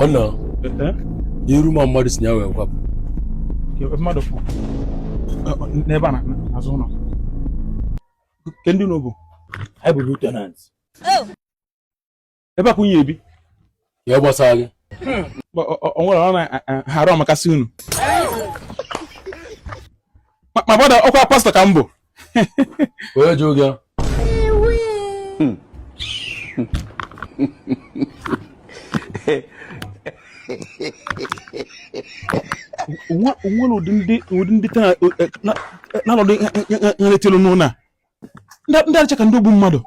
wannan iru ma mmadụ si ya wee kwapụ mmadụ n'ebe a n'azụ ụlọ kee ndị unu bụ anyị bụ new tenant ebe a ka unu ya-ebi ya gbasara gị o nwere ọ na-arụ ọmakasị unu ma bọda ọkwa pastọ ka m bụ onye ji oge o nwere ụdị ndị na-anọdụ nletelu n'ụlọ a ndị a dịcha ka ndị ogbu mmadụ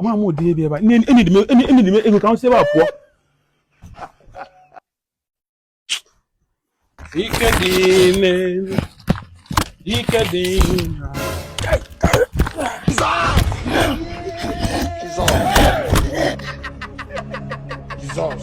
ama m ụdị ebe ebe a e nyedị m ego ka m si ebe a pụọ ike dị n'elu ike dị n'ala Jesus.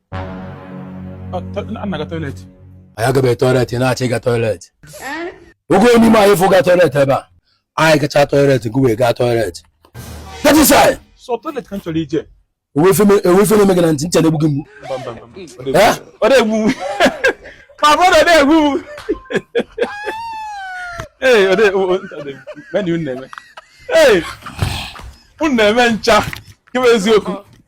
anyị agabeghị toilet na-achọ ịga toilet oge onye ime anyị fụga toilet ebe a anyị gacha toilet gị wee gaa toilet e were ife eme gị na ntị nchara egbu gị mgbu unu na-eme ncha eziokwu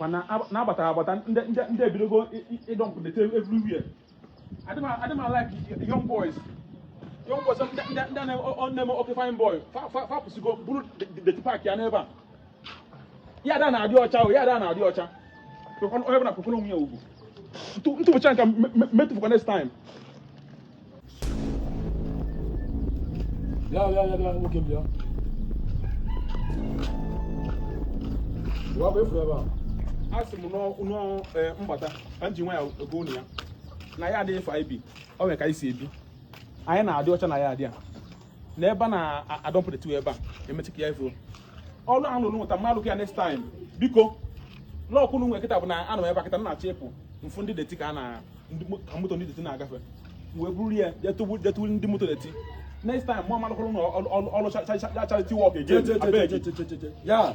mana na-abata abata ndị ebidogo ịdọmpụ deti everywhere adị m alike young boys young boys ndị na-eme oke fine boy fa apụsigo buru deti paaki ya n'ebe a yaadị a na-adị ọcha o yaadị a na-adị ọcha onye bụla kwanyekwara onwe ya ugwu m tụfucha nka ma atụfukwa next time bịa bịa bịa bịa nwoke bịa bịa bụ efu ebe a asị m na ọ mbata ka m ji nwayọ agwa ụnụ ya na yaadị a anyị bi o nwere ka anyị si ebi anyị na-adị ọcha na yaadị a na ebe a na-adọmpụ deti ebe a emechi ka ya efuo ọrụ ahụ lụrụ nweta mmadụ ya next time biko lọọkụ m nwe kịta bụ na anọ m ebe a kịta na-achọ ịpụ m fụ ndị deti ka a na ka moto ndị deti na-agafe wee buru ya jee tụọrọ ndị moto deti next time mụ ama alụkwụrụ unu ọrụ charity work again abeg ya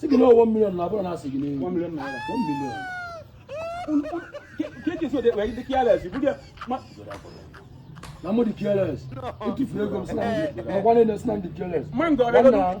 Sị gị na ọ one million na abụrọ na a sị gị n'elu. One million naira. One million. Keke so de wee dị careless. Ibu dị ma. Na mụ dị careless. I tufuru ego m sị na m dị. Ma gwa na-ene sị na m dị careless. Ma m gara.